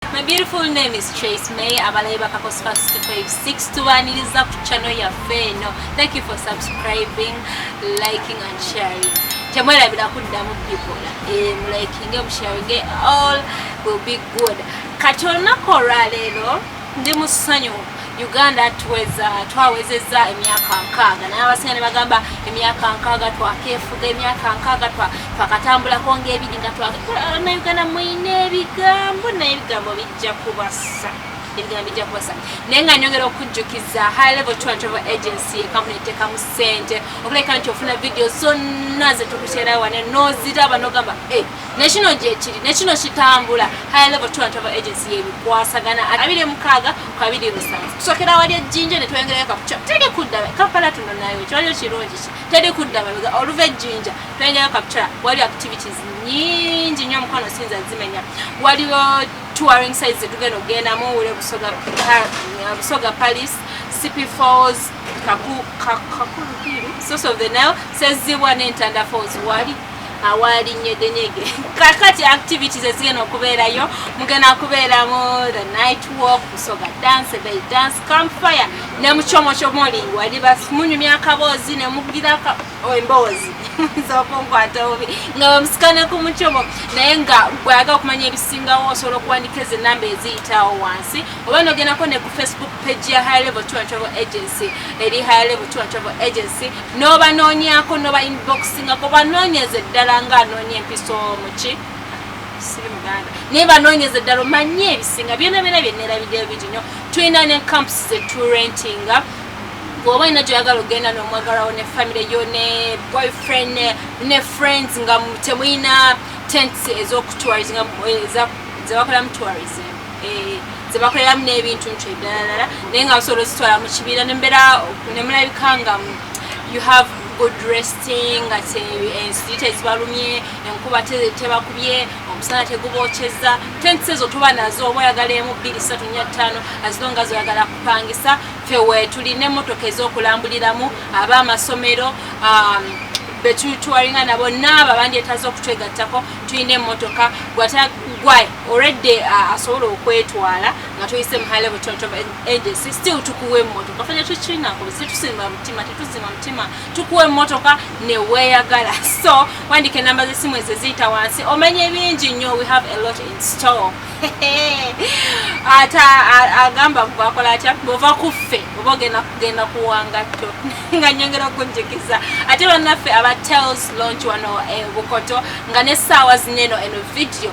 My beautiful name is Trace May abalayi bakakosi ka 656 tubaniriza ku channel yaffe eno thank you for subscribing liking and sharing temwerabira kuddamu bikola eh, mulikinge musharinge all will be good kati olunaku olwaleero ndi mu ssanyu Uganda tuweza twawezezza emyaka nkaaga naye abasinga ne bagamba emyaka nkaaga twakeefuga emyaka nkaaga twakatambulako ngaebiri nga twagana uganda mwine ebigambo naye ebigambo bijja kubasa ebigambo bijja kubasa naye nga nyongera okujjukiza high level tour and travel agency ekampuni etekamu ssente okuleka nti ofuna vidiyo zonna zetukuteerawo wane noziraba nogamba eh, nekino gyekiri nekino kitambula high level tour and travel agency yebikwasagana abiri mukaaga kabiri lusanvu tusokera wali ejjinja ne tweyongerayo kakuca teri kudda kampala tuno nayo kiwaliyo kirungi ki teri kudda mabega oluva ejjinja tweyongerayo kakuca waliyo activities nyingi nyo omukwano sinza zimenya waliwo touring sites zetugenda okugendamu wule busoga busoga palis cp falls kakulu source of the nile sezibwa n'entanda falls wali awaalinnye denyege kakati activities ezigenda okubeerayo mugenda kubeeramu the night walk kusoga dance bay dance campfire ne mucomocomoli waliba munyumya akaboozi ne mugira oh, emboozi zokunkwata obubi nga bamusikana ku mucomo naye nga bwayaga okumanya ebisingawo osobola okuwandika ezo enamba eziyitawo wansi oba nogendako ne ku facebook page ya high level tour and travel agency eri high level tour and travel agency n'obanoonyako n'oba inboxingako banoonyeze ddala nga anoonya empiso muki siri muganda naye banoonyeze ddala omanye ebisinga byona byona byenerabidde ebingi nyo tulina ne camps zeturentinga bwoba olina gyoyagala ogenda nomwagalawo ne family yo ne boyfriend ne friends nga temulina tents ezokutwarizinga eh, zebakolamu tourism eh, zebakoleramu n'ebintu nti eddalala naye nga basobola ozitwala mu kibiina nembeera nemulabika nga you have good resting nga ensirit eh, ezibalumye enkuba tebakubye omusana tegubokyeza tents ezo tuba nazo oba oyagala emu bbiri satu nya ttaano azilonga zoyagala kupangisa fe wetulina emotoka ezokulambuliramu aba amasomero um, betutwalinga nabo naabo abandyetaza okutwegattako tulina emotoka gwatagwae already uh, asobola okwetwala nga tuyise muhale butonto agency still tukuwa emmotoka fanya tukinako situsimba mutima tetusima mutima tukuwa emmotoka neweyagala so wandika enamba zesimu ezo ziyita wansi omanye bingi nnyo we have a lot in store ate agamba gwakola atya bwova kuffe oba ogenda kugenda kuwangatto nga nyongera okunjigiza ate bannaffe aba tels launch wano e bukoto nga nesaawa zineno eno vidiyo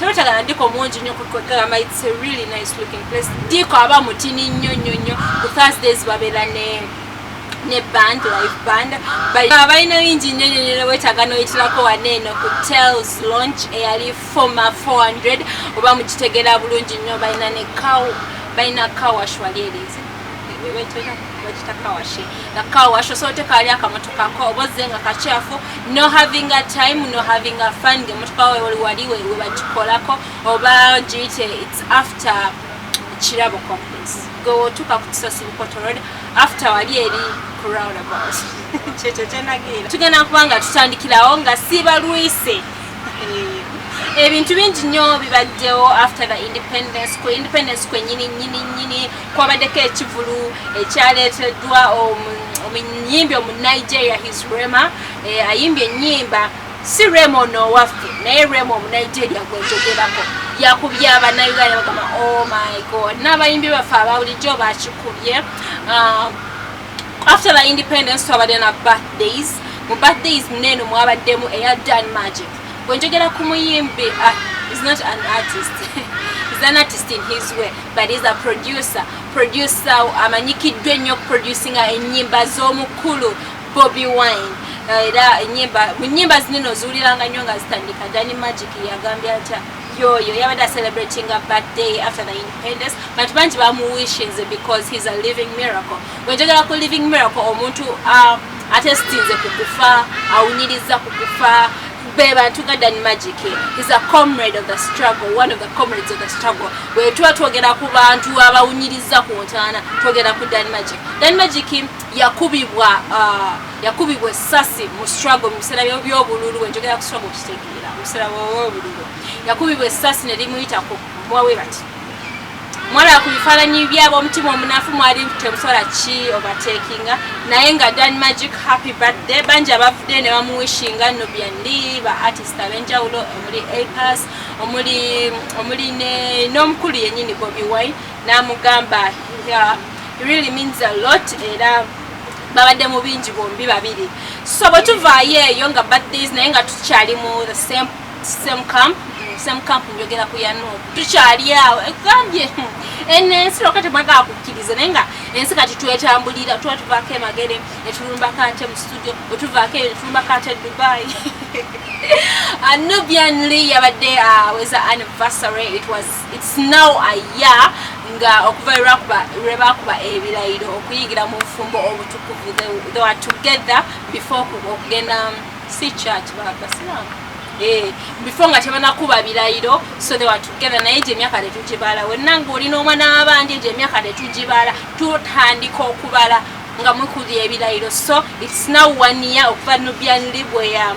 tebatagala ndiko mungi nnyo kugamba its a really nice looking place ndiko aba mutini nnyo nnyo nnyo ku thursdays babeera ne ne band live band balina bingi nnyo nnyo nnyo wetaaga noyitirako wane eno ku tales launch eyali foma 400 oba mukitegeera bulungi nnyo balina ne cow balina cowash wali erize wekita kawashi nga kawashi osobola otekaali akamotoka ko oba ozze nga kakyafu no having a time no having a fun nga emotoka wewali wali webagikolako oba giyite its after kirabo complex gwe wotuuka ku kisosi bukotorod after wali eri ku roundabout kyekyo kyenageera tugenda kuba nga tutandikirawo nga sibalwise ebintu bingi nnyo bibaddewo after the independence ku independence kwenyini nyini nyini kwabaddeko ekivulu ekyaleeteddwa omuyimbi omunigeria his rema eh, ayimbye ennyimba si rema ono owaffe naye rema omunigeria gwenjogerako yakubye abanauganda bagamba oh my god n'abayimbi baffe ababulijjo bakikubye ah, after the independence twabadde na birthdays mu birthdays muneeno mwabaddemu eya dan magic bwenjogera ku muyimbi ah, is not an artist is an artist in his way but is a producer producer amanyikiddwa ennyo okuproducinga ennyimba z'omukulu bobi wine eh, era enyimba mu nnyimba zinene oziwuliranga nnyo nga zitandika dani magic yagambye atya yoyo yabadde acelebratinga birthday after the independence but bangi bamuwishinze because he's a living miracle wenjogera ku living miracle omuntu ah, atesitinze ku kufa awunyiriza ku kufa be bantu nga dan magic is a comrade of the struggle one of the comrades of the struggle bwetuba twogera ku bantu abawunyiriza ku ntaana twogera ku dan magic dan magic yakubibwa uh, yakubibwa esasi mu struggle mu biseera by'obululu wenjogera ku struggle okitegeera mu biseera by'obululu yakubibwa esasi ne limuyita ku mwawe bati mwala ku bifaananyi by'ab'omutima omunafu mwali temusobola ki obatekinga naye nga dan magic happy birthday bangi abavudde ne bamuwishinga nubian lee ba artist ab'enjawulo omuli apas omuli omuli n'omukulu yennyini bobi wine n'amugamba really means a lot era babadde mu bingi bombi babiri so bwe tuvaayo eyo nga birthdays naye nga tukyali mu the same same camp same camp njogera ku yanu tukyali awo ekugambye ene ensi lwaka temwagala kukkiriza naye nga ensi kati twetambulira tuba tuvaako emagere etulumbako ate mu studio wetuvaako eyo netulumbako ate dubai anubian uh, lee yabadde aweza uh, anniversary it was its now a year nga okuva lwebakuba ebirayiro okuyingira mu bufumbo obutukuvu they were together before okugenda si church ba basilamu eh before nga tebanakuba bilayiro so they were together naye gye emyaka tetugibala wenna nga olina omwana wabandi egyo emyaka tetugibala tutandika okubala nga mukuli ebilayiro so its now one year okuva nubianli bweya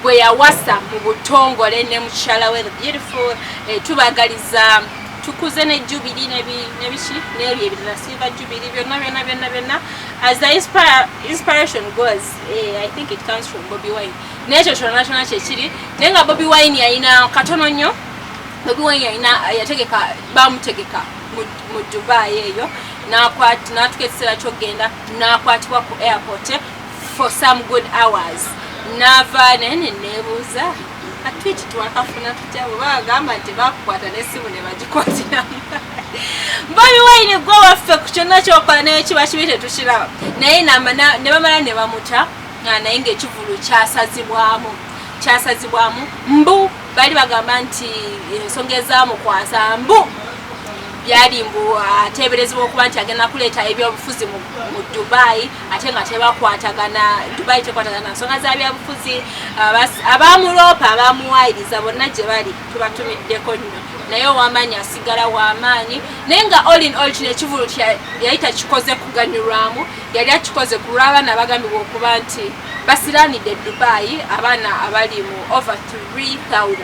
bweyawasa mu butongole ne mukyala we the beautiful eh, tubagaliza tukuze ne jubili nebiki nebyo ebirala silver jubili byonna byonna byonna byonna as the inspiration goes Eh, I think it comes from Bobby Wine. Nekyo kyona kyona kyekiri naye nga Bobby Wine yalina katono nnyo Bobby Wine yalina yategeka bamutegeka mu Dubai eyo natuka ekiseera kyokugenda nakwatibwa ku airport for some good hours nava nene nebuuza Twiti twakafuna tutya bwe bagamba nti bakukwata n'essimu ne bagikwatiramu bobi wayine gwe waffe ku kyonna kyokola naye kiba kibi tetukiraba naye ne bamala ne bamuta naye ngaekivulu kyasazibwamu kyasazibwamu mbu bali bagamba nti ensonga ezamukwasa mbu byali mbu ateeberezebwa okuba nti agenda kuleeta ebyobufuzi mu dubai ate nga tebakwatagana dubai tekwatagana nsonga za byabufuzi abamuloopa abamuwayiriza bonna gye bali tubatumiddeko nnyo naye owamaanyi asigala wamaanyi naye nga olin ol kino ekivulu yali takikoze kuganyulwamu yali akikoze ku lw'abaana bagambibwa okuba nti basiranidde dubai abaana abali mu over 3000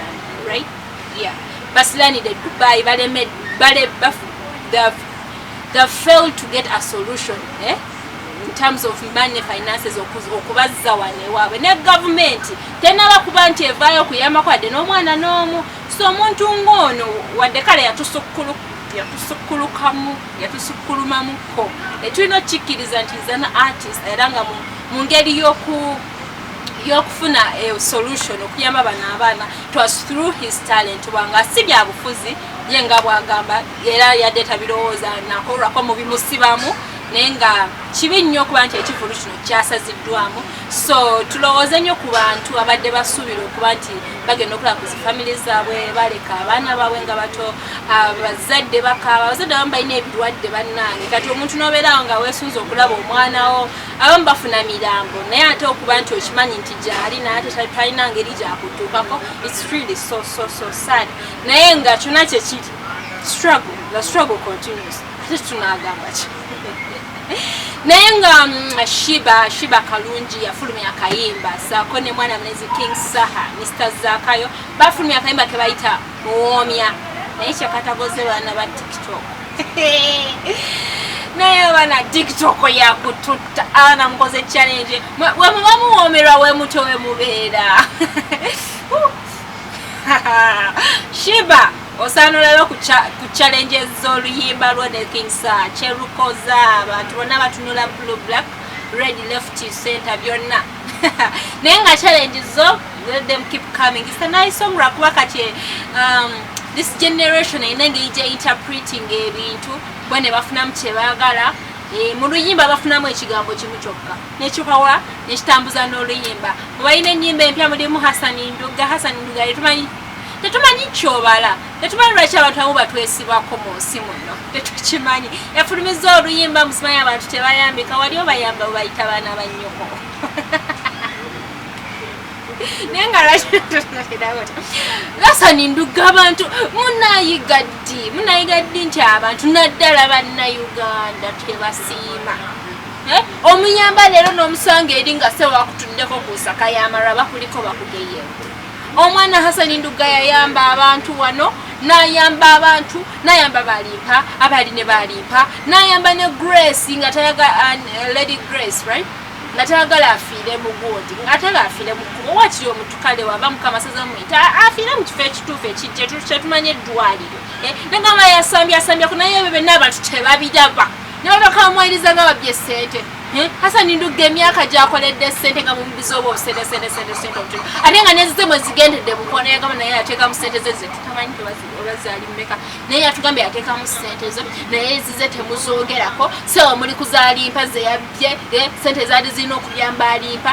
right yeah basiranidde dubai balemedde bale bafu they failed to get a solution eh? in terms of money finances okubazza wano ewaabwe ne gavumenti tenaba kuba nti evaayo okuyambako wadde n'omwana n'omu so omuntu ng'ono wadde kale yatusukkulukamu yatusukkulumamuko etulina okukikkiriza nti zana artist era nga mu ngeri y'oku yokufuna eh, solution okuyamba bano abaana twas through his talent wanga si byabufuzi ye nga bwagamba era yadde tabirowooza nakolwako mu bimusibamu naye nga kibi nnyo okuba nti ekivulu kino kyasaziddwamu so tulowooze nnyo ku bantu abadde basuubira okuba nti bagenda okulaba ku zifamily zaabwe baleka abaana baabwe nga bato abazadde bakaaba abazadde abamu balina ebirwadde bannange kati omuntu nobeerawo nga weesunza okulaba omwanawo abamu bafuna mirambo naye ate okuba nti okimanyi nti gyali naye ate talina ngeri gyakutuukako its really so so so sad naye nga kyona kyekiri struggle the struggle continues ate tunagamba ki naye nga mm, shiba shiba kalungi yafulumya akayimba saako ne mwana mlezi king saha mr zakayo bafulumya akayimba kebayita muwoomya naye kyakatagoze baana ba tiktok naye abaana tiktok yakututta abaana mukoze challenge wemuba muwoomerwa wemutyo wemubeera shiba osaana olaba ku challenge z'oluyimba lwo ne king sir kyerukoza abantu bonna batunula blue black red left center byonna naye nga challenge zo let them keep coming it's a nice song lwakuba kati um, this generation erina engeri gye interpreting ebintu bo ne bafunamu kye baagala eh, mu luyimba bafunamu ekigambo kimu kyokka nekipawa nekitambuza n'oluyimba mubalina ennyimba empya mulimu hasani nduga hasani nduga tetumanyi tetumanyi kyobala tetumanyi lwaki abantu amu batwesibako mu nsi muno tetukimanyi efulumiza oluyimba musimanyi abantu tebayambika wali obayamba webayita baana bannyoko naye nga lasani nduga abantu munayiga ddi munayiga ddi nti abantu naddala bannauganda tebasiima Eh, omuyamba leero n'omusanga eri nga sewakutuddeko ku nsaka y'amalwa bakuliko bakugeye omwana hasani ndugga yayamba abantu wano nayamba abantu nayamba balimpa abali ne balimpa nayamba ne grace nga tayaga uh, lady grace right nga tayagala afiire mu gundi atala afiire mu kubo wakiri omutukale wava mukama saza muyita afiire mu kifo ekituufu ekijja kyetumanya eddwaliro eh, nagamba yasambye asambye ku naye ebyo byonna abantu tebabiraba ne babaka bamuwayiriza nga babye ssente eh, hasani ndugga emyaka gyakoledde ssente nga mumubiza oba obusedesedesedesente obutu ate nga nezize mwe zigendedde mukoona yagamba naye yateekamu ssente ze ze tutamanyi tebazali mumeka naye yatugambye yateekamu ssente zo naye ezize temuzoogerako sewa muli kuzalimpa zeyabbye eh, ssente zaali zirina okuyamba alimpa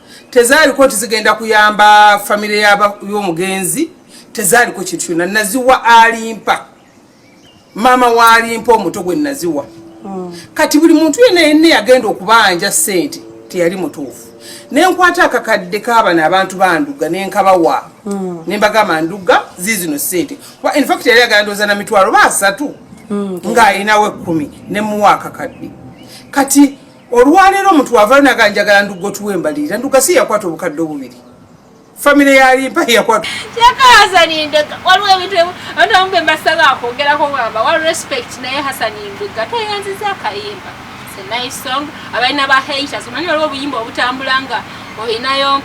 tezaaliko nti zigenda kuyamba famire y'omugenzi tezaaliko kintu kyonna naziwa alimpa maama waalimpa omuto gwe naziwa hmm. kati buli muntu yena yenna yagenda okubanja sente teyali mutuufu nenkwata akakadde kabana abantu banduga nenkabawa hmm. nembagamba nduga zizino sente infact yali agandoza na mitwalo basatu hmm, nga alinawo ekumi nemuwa akakadde kati olwaleero omuntu wavalo naga njagala ndugo tuwe embalirira nduga si yakwata obukadde obubiri famire yalimpa yakwata kyakahasanindeka waliwo ebintu abantu abamu bemasaba akwogerako bwamba wa respect naye hasanindega tweyanziza akayimba nice song abalina ba haters omanyi waliwo obuyimba obutambula nga olinayo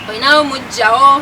olinayo mujjawo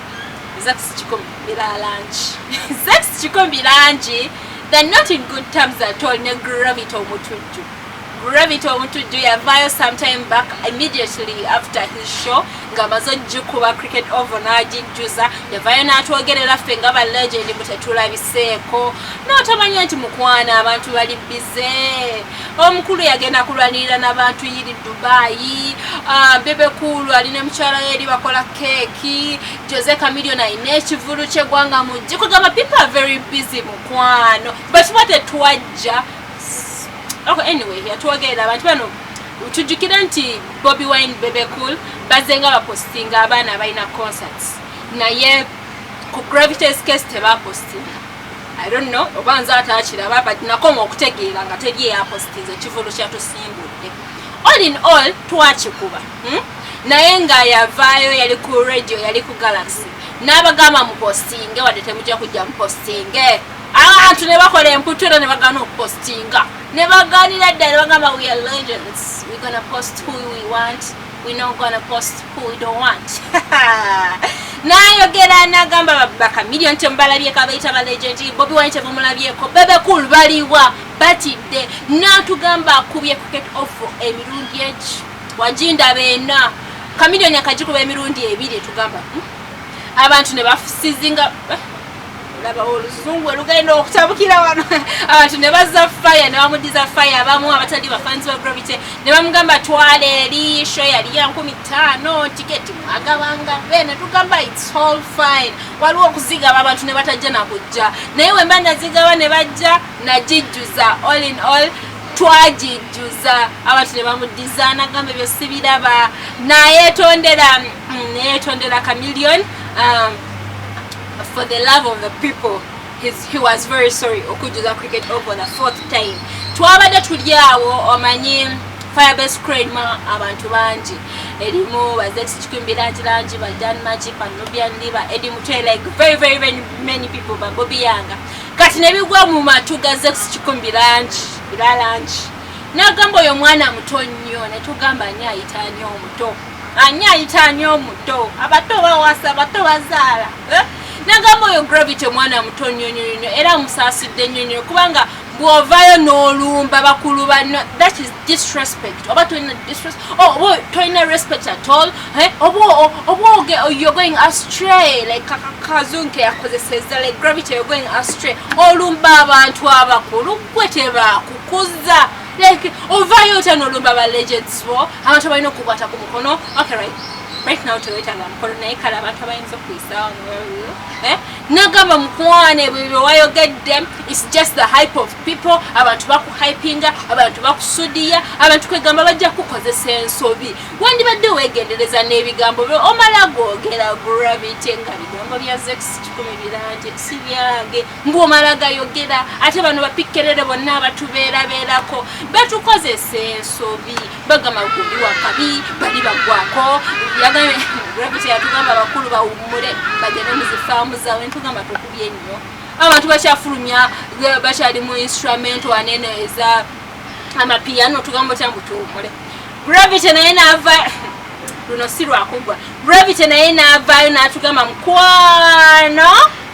kikomi langi they're not in good terms at all ne gravity omutujju gravity omutujju yavaayo sometime back immediately after his show nga amaze ogikuba cricket ovo n'agijjuza yavaayo n'atwogerera ffe nga ba legend mutetulabiseeko n'otomanya nti mukwana abantu bali bize omukulu yagenda kulwanirira nabantu yiri dubayi ah, bebekulu ali ne mukyala we eri bakola keeki jose camilion alina ekivulu kyegwanga mujje kugamba people are very busy mukwano but what etwajja ok anyway yatwogerera abantu bano tujjukire nti bobi wine bebecool bazenga bapostinga abaana abalina concerts naye ku gravitas case tebapostinga I don't know oba nze ataakiraba but nakoma okutegeera nga teri eyapositiza ekivulu kyatusimbudde all in all twakikuba hmm? naye nga yavaayo yali ku radio yali ku galaxy n'abagamba mupostinge wadde temujja kujja mupostinge abantu ne bakola emputu era ne bagaana okupostinga ne bagaanira ddala bagamba we are legends we gonna post who we want we not gonna post who we don't want nayogera nagamba babaka million tembalabyeko abayita ba legend bobi wine tebamulabyeko bebe cool baliwa batidde natugamba akubye kuket off emirundi egi wajinda bena kamilioni akagikuba emirundi ebiri tugamba hmm? abantu nebafusizinga eh? labawo oluzungu olugenda okutabukira wano abantu ne bazza faya ne bamudiza faya abamu abatali bafanzi ba gravity ne bamugamba twala eri sho yali ya nkumi ttaano tiketi mwagabanga be ne tugamba its all fine waliwo okuzigaba abantu ne batajja nakujja naye wemba nazigaba ne bajja nagijjuza all in all twagijjuza abantu ne bamudiza nagamba ebyo sibiraba nayetondera mm, neyetondera kamillion um, for the love of the people He's, he was very sorry okujjuza cricket over the fourth time twabadde tuli awo omanyi firebase crane ma abantu bangi erimu bazekikikwimbirangirangi ba dan magic banubian liba edi mutwe like very very many, many people babobi yanga kati nebigwa mu matu ga zekikikumbi langi era langi nagamba oyo omwana muto nnyo netugamba ani ayita ani omuto Ani ayita ani omuto? Abato bawasa, abato bazaala. Eh? Nagamba oyo Gravity omwana muto nnyo nnyo nnyo era musaasidde nnyo nnyo kubanga bw'ovaayo n'olumba bakulu banno that is disrespect oba tolina disrespect oh, oba tolina respect at all eh? oba oge oh, you're going astray like kazunke yakozeseza like gravity you're going astray olumba abantu abakulu gwe tebakukuza Like, ovayo otya nolumba ba legends bo abantu abalina okukwata ku mukono okay right right now tewetanga mukono naye kale abantu abayinza okuyisaawo eh? nagamba mukwane ebyo byewayogedde its just the hype of people abantu bakuhypinga abantu bakusudiya abantu kwegamba bajja kukozesa ensobi wandibadde wegendereza n'ebigambo byo omala googera gravity nga bigambo bya zex kikumi birangi si byange mbu omala gayogera ate bano bapikkerere bonna abatubeerabeerako batukozesa ensobi bagamba gundi wakabi bali bagwako gravity yatugamba abakulu bawummule bagende muzifaamu zawe ntugamba tukubye nnyo abantu bakyafulumya bakyali mu instrument wanene eza amapiyano tugamba otya mbu tuwummule gravity naye naava luno si lwakugwa gravity naye naavaayo natugamba mukwano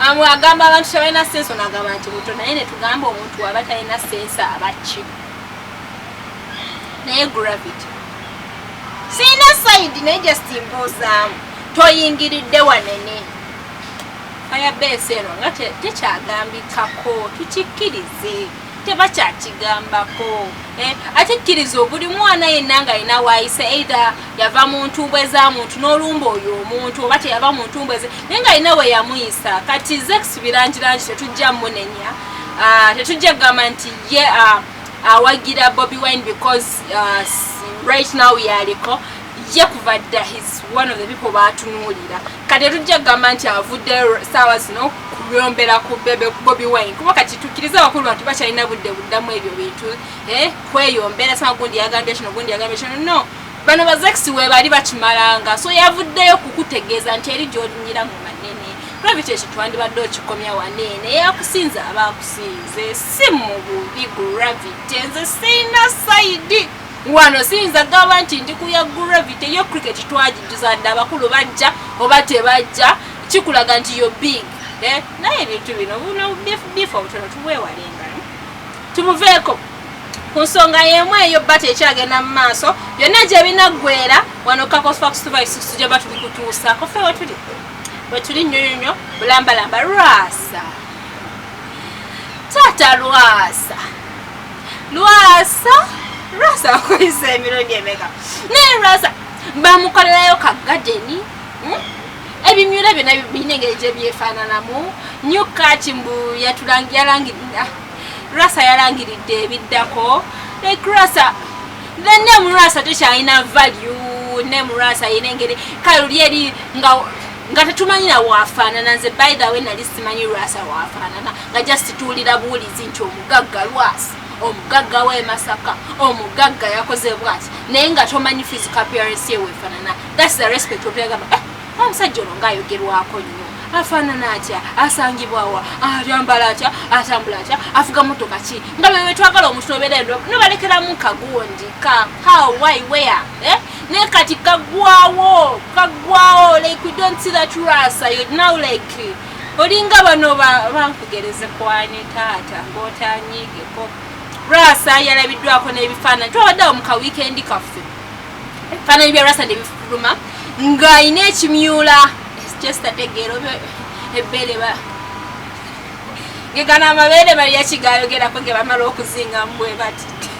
Amwe agamba abantu tebalina sense ono agamba nti muto naye ne tugamba omuntu waba talina sense abakki naye gravity sirina sayidi naye just mbuuzaamu toyingiridde wanene fayabesi eno nga tekyagambikako tukikkirize tebakyakigambako eh, ate kkiriza obuli mwana yenna nga alina waayise eitha yava mu ntumbwe za muntu n'olumba oyo omuntu oba teyava mu ntumbwe ze naye nga alina we yamuyisa kati zex birangirangi tetujja munenya ah, tetujja kugamba nti ye ah, awagira bobi wine because ah, right now yaliko ye kuva dda his one of the people batunuulira kati tujja kugamba nti avudde saawa zino kuyombera ku bebe bobi wine kuba kati tukkiriza abakulu bantu bakyalina budde buddamu ebyo bintu eh, kweyombera sama gundi yagambye kino gundi yagambye kino no bano bazekisi webali bakimalanga so yavuddeyo kukutegeeza nti eri gyolinyira mu manene gravity ekyo twandibadde okikomya waneene yakusinze aba akusinze si mu bubi gravity nze sirina saidi wano siyinza gamba nti ndi kuya gravity yo cricket twagijjuza dda abakulu bajja oba tebajja kikulaga nti yo big eh, naye ebintu bino bifo butono tubwewalenga tumuveeko ku nsonga yemu eyo bata ekyagenda mu maaso byonna gyebinaggwera wano kakosfaxtuvaisusujaba tubikutuusaako fe wetuli wetuli nyonyonyo bulambalamba rwasa taata rwasa lwasa lwasa akoyisa emirundi emeka naye lwasa bamukolerayo ka gadeni hmm? ebimyula byona birina engeri gye byefaananamu new kati mbu yalangirira lwasa yalangiridde ebiddako like lwasa the name lwasa tekyalina value name lwasa yina engeri kaluli eri nga nga tetumanyira wafaanana nze by the way nali simanyi lwasa wafaanana nga just tuwulira buwulizi nti omugagga lwasa omugagga we masaka omugagga yakoze bwati naye nga tomanyi physical appearance ye wefaanana thats the respect obyagamba eh, omusajja ono ngaayogerwako nnyo afaanana atya asangibwawa ayambala atya atambula atya afuga motoka ki nga bebe twagala omuntu obeera endo nobalekeramu kagundi ka how why where eh? naye kati kagwawo kagwawo like we don't see that rasa you now like olinga bano bankugereze kwani taata ngotanyigeko rasa yalabiddwako n'ebifaananyi twabaddewo mu ka wiikendi kaffe ebifaananyi bya rasa nebifuluma ng'alina ekimyula kyesitategeero ebbeere ba gegana amabeere bali yakigayogerako ge bamala okuzinga mubwe bati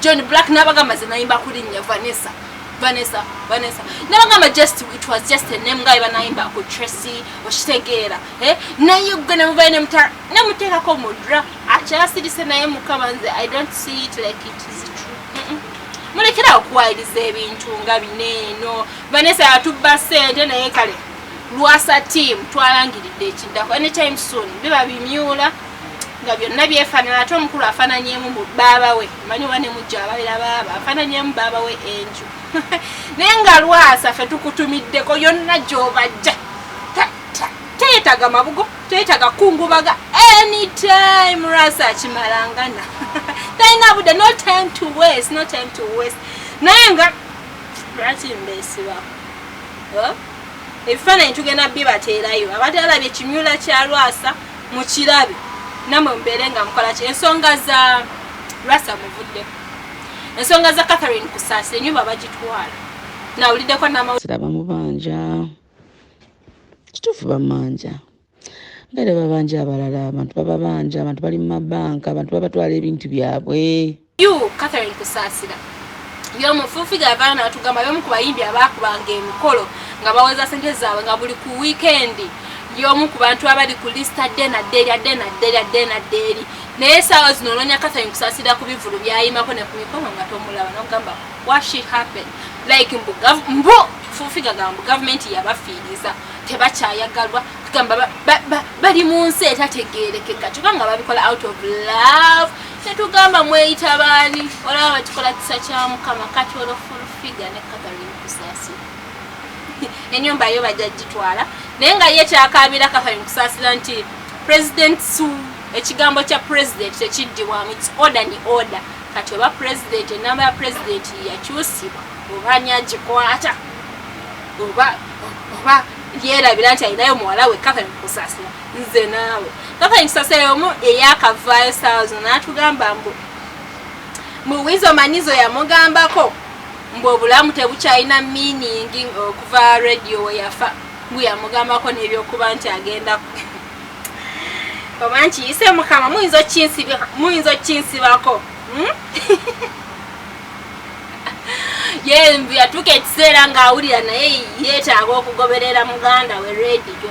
john black nabagamba ze nayimba kulinnya vanessa vanessa vanessa nabagamba just it was just a name nga ebanayimba ku tracy okitegeera eh? naye gwe nemuvayo nemutala nemuteekako mudra akyasirise naye mukama nze i don't see it like it is true mulekera okuwayiriza ebintu nga bineeno vanessa yatubba sente naye kale lwasa tiamu twalangiridde ekiddako anytime soon biba bimyula nga byonna byefanana ate omukulu afananyemu mu baaba we manyi oba nemujja ababeera baaba afananyemu baaba we enju naye nga lwasa fe tukutumiddeko yonna gyobajja teyetaga mabugo teyetaga kungubaga anytime lwasa akimalangana talina budde no time to west no time to west naye nga lwaki mbesiba ebifaananyi tugenda bibateerayo abatalabye kimyula kya lwasa mukirabe namwe mubeere nga mukolaki ensonga za rasa muvudde ensonga za catherine kusaasa enyumba bagitwala nawuliddeko namazira bamubanja kituufu bamanja ngaera babanja abalala abantu bababanja abantu bali mu mabanka abantu babatwala ebintu byabwe You Catherine Kusasira yomu full figure yavaayo natugamba yomu ku bayimbi abaakubanga emikolo nga baweza sente zaabwe nga buli ku wiikendi yomu ku bantu abali ku lisita dde nadde erya dde nadde erya dde nadde eri naye esaawa zino onoonya Catherine Kusasira ku bivulu byayimako ne ku mikono nga tomulaba nokugamba what she happen like mbu mbu full figure gambu gavumenti yabafiiriza tebakyayagalwa kugamba bali mu nsi etategeerekeka kyokka nga babikola out of love Tetugamba mweyita baani olaba bakikola kisa kya mukama kati olwo fulfiga ne kathalin kusaasira enyumba yo bajja gitwala naye nga ye kyakaabira kathalin kusaasira nti president su ekigambo kya president tekiddibwamu its order ni order kati oba president enamba ya president yakyusibwa oba ani agikwata oba oba yerabira nti alinayo muwala we kathalin kusaasira nze naawe kaka ekisasere omu eyakavaayo saawa zo n'atugamba mbu muwizo manizo yamugambako mbu obulamu tebukyalina miiningi okuva radio weyafa mbu yamugambako n'ebyokuba nti agenda oba nkiyise mukama muyinza okukinsibako hmm? ye yatuuka ekiseera ng'awulira naye yeetaaga okugoberera muganda we radio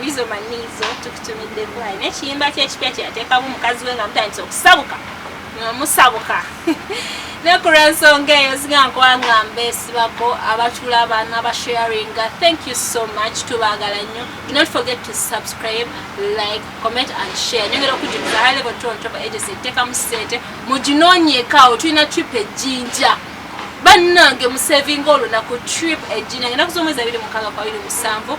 Wizo Manizo tukutumidde bwayi n'ekiyimba ky'ekipya kye yateekamu mukazi we nga mutandise okusabuka nga musabuka ne ku lw'ensonga eyo zinga nkwanga mbeesibako abatula baana ba sharinga thank you so much tubaagala nnyo do not forget to subscribe like comment and share nyongera okujjumiza high level tron topa agency etteekamu ssente muginoonyeekaawo tulina trip ejjinja bannange musevinga olunaku trip ejjinja ngenaku z'omwezi abiri mukaaga kwabiri musanvu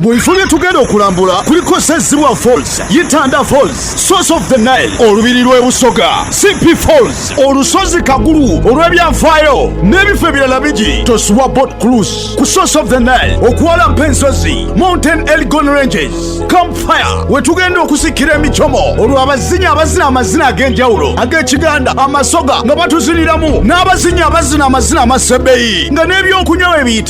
mu bifo bye tugenda okulambula kuliko sezibwa falls yitanda falls source of the nile olubiri lw'e busoga cp falls olusozi kagulu olw'ebyafaayo n'ebifo ebirala bigi tosuwa bot cruise ku source of the nile okuwalampa ensozi mountain elgon ranges campfire we tugenda okusikira emicomo olw'abazinyi abazina amazina ag'enjawulo ag'ekiganda amasoga nga batuziniramu n'abazinyi abazina amazina amasebeyi nga n'ebyokunywa bebiyita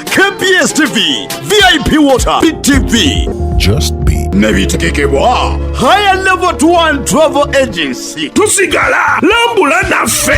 KBS TV, VIP Water, BTV. Just be nebitegekebwa higher level to one travel agency tusigala lambula naffe